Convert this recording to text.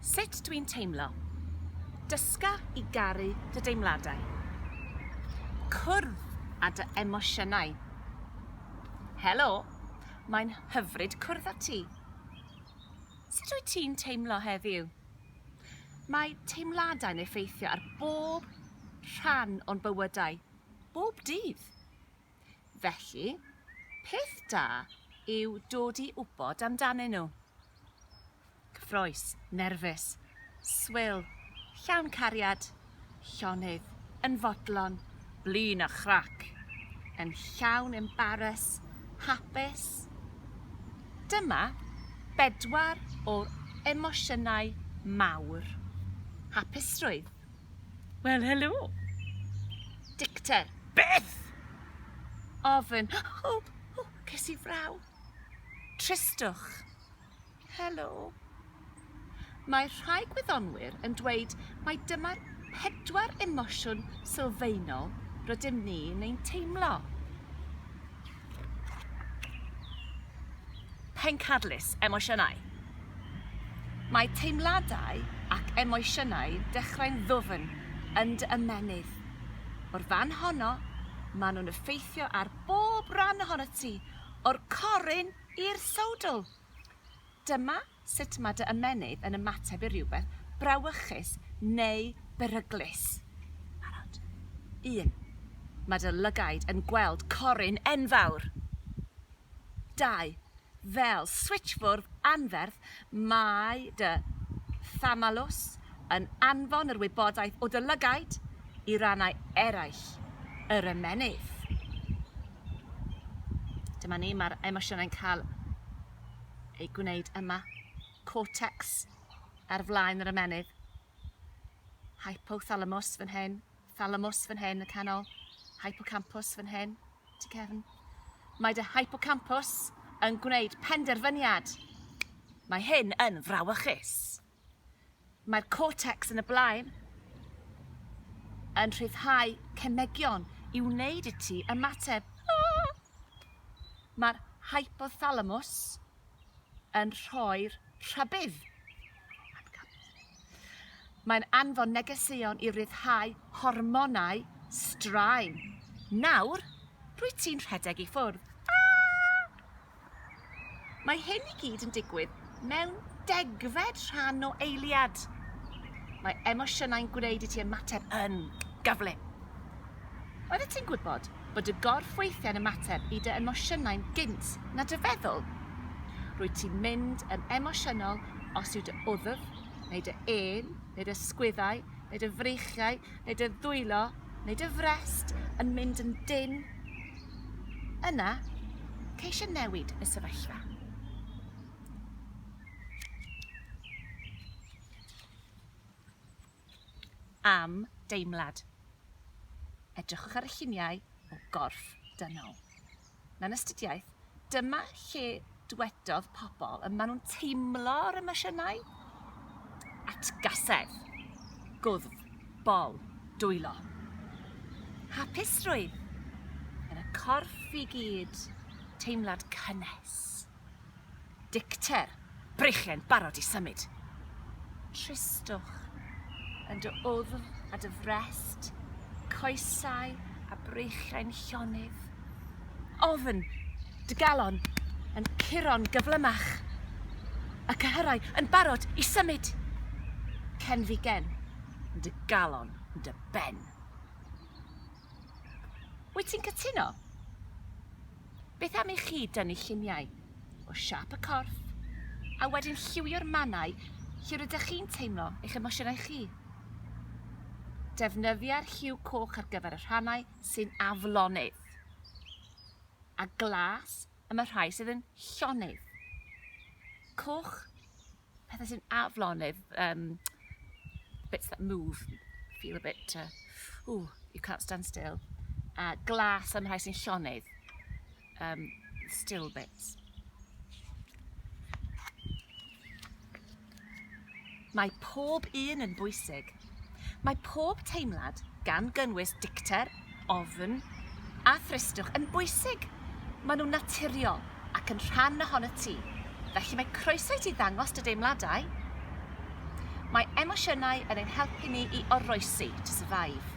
Sut dwi'n teimlo? Dysga i garu dy deimladau. Cwrdd â dy emosiynau. Helo, mae'n hyfryd cwrdd â ti. Sut wyt ti'n teimlo heddiw? Mae teimladau'n effeithio ar bob rhan o'n bywydau, bob dydd. Felly, peth da yw dod i wybod amdanyn nhw. Cyffroes, nerfus, swil, llawn cariad, llonydd, yn fodlon, blin a chrac, yn llawn embaras, hapus. Dyma bedwar o'r emosiynau mawr. Hapusrwydd, Wel, helo. Dicter. Beth? Ofyn. O, o, ces i fraw. Tristwch. Helo. Mae rhai gwyddonwyr yn dweud mae dyma'r pedwar emosiwn sylfaenol rydym ni'n ein teimlo. Pencadlys, emosiynau. Mae teimladau ac emosiynau dechrau'n ddwfn yn dy ymennydd. O'r fan honno, maen nhw'n effeithio ar bob rhan ohono ti, o'r corun i'r sowdl. Dyma sut mae dy ymennydd yn ymateb i rywbeth brawychus neu beryglus. Barod? Un. Mae dy lygaid yn gweld corun enfawr! Dau. Fel switsfwrdd anferth, mae dy thamalws yn anfon yr wybodaeth o dy lygaid i rannau eraill yr ymennydd. Dyma ni, mae'r emosiynau'n cael ei gwneud yma, cortex ar flaen yr ymennydd, hypothalamus fan hyn, thalamus fan hyn y canol, hypocampus fan hyn, ti cefn. Mae dy hypocampus yn gwneud penderfyniad. Mae hyn yn frawychus. Mae'r cortex yn y blaen yn rhyddhau cemegion i wneud i ti ymateb. Mae'r hypothalamus yn rhoi'r rhybudd. Mae'n anfon negeseuon i ryddhau hormonau straen. Nawr, rwyt ti'n rhedeg i ffwrdd. Mae hyn i gyd yn digwydd mewn degfed rhan o eiliad. Mae emosiynau'n gwneud i ti ymateb yn gyflym. Oeddet ti'n gwybod bod y gorff weithiau'n ymateb i dy emosiynau'n gynt na dy feddwl? Rwyt ti'n mynd yn emosiynol os yw dy wddf, neu dy ên, neu dy sgwyddau, neu dy freichiau, neu dy ddwylo, neu dy frest yn mynd yn dyn, yna ceisio newid y sefyllfa. Am deimlad. Edrychwch ar y lluniau o gorff dynol. mewn astudiaeth, dyma lle dwedodd pobl y maen nhw'n teimlo yr emosiynau. Atgasedd, gwddf, bol, dwylo. Hapusrwydd, yn y corff i gyd, teimlad cynnes. Dicter, Breichen, barod i symud. Tristwch, yn dy wddf a dy frest, coesau a breichiau'n llonydd. Ofn, dy galon, yn curo'n gyflymach. Y cyhyrau yn barod i symud. Cenfigen, yn dy galon, yn dy ben. Wyt ti'n cytuno? Beth am i chi dynnu lluniau o siâp y corff a wedyn lliwio'r mannau lle rydych chi'n teimlo eich emosiynau chi? Defnyddio'r lliw coch ar gyfer y rhannau sy'n aflonydd a glas am y rhai sydd yn llonydd. Coch pethe sy'n aflonydd yym bits that move feel a bit uh, ooh you can't stand still a glas am rhai sy'n llonydd um, still bits Mae pob un yn bwysig Mae pob teimlad, gan gynnwys dicter, ofn a thristwch, yn bwysig. Maen nhw'n naturiol ac yn rhan ohonot ti, felly mae croeso i ti ddangos dy deimladau. Mae emosiynau yn ein helpu ni i oroesi, to survive.